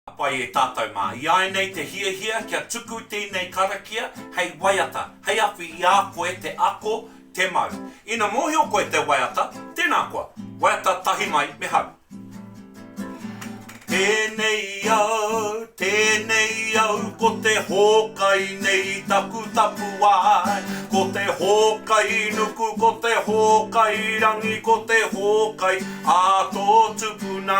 Ka pai e tātou mā. Iāinei te hiahia kia tuku tēnei karakia hei waiata, hei awhi i a koe te ako, te mau. Ina mōhio koe te waiata, tēnā koa. Waiata tahi mai me hau. Tēnei au, tēnei au, ko te hōkai nei taku tapuwae. Ko te hōkai nuku, ko te hōkai rangi, ko te hōkai a tō tupuna,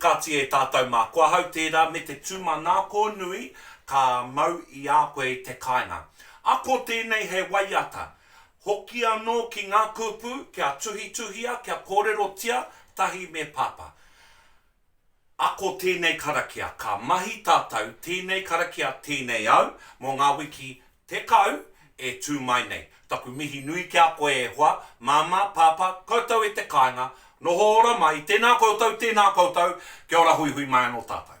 Kāti e tātou mā, ko ahau tērā me te tūmanako nui ka mau i a koe i te kāinga. Ako tēnei hei waiata, hoki anō ki ngā kupu kia tuhituhia, kia kōrerotia tahi me Pāpā. Ako tēnei karakia, ka mahi tātou tēnei karakia tēnei au mō ngā wiki Tekau, e tū mai nei. Taku mihi nui ki a koe e hoa, Māmā, Pāpā, koutou e te kāinga, noho ora mai, tēnā koutou, tēnā koutou, kia ora huihui mai anō tātou.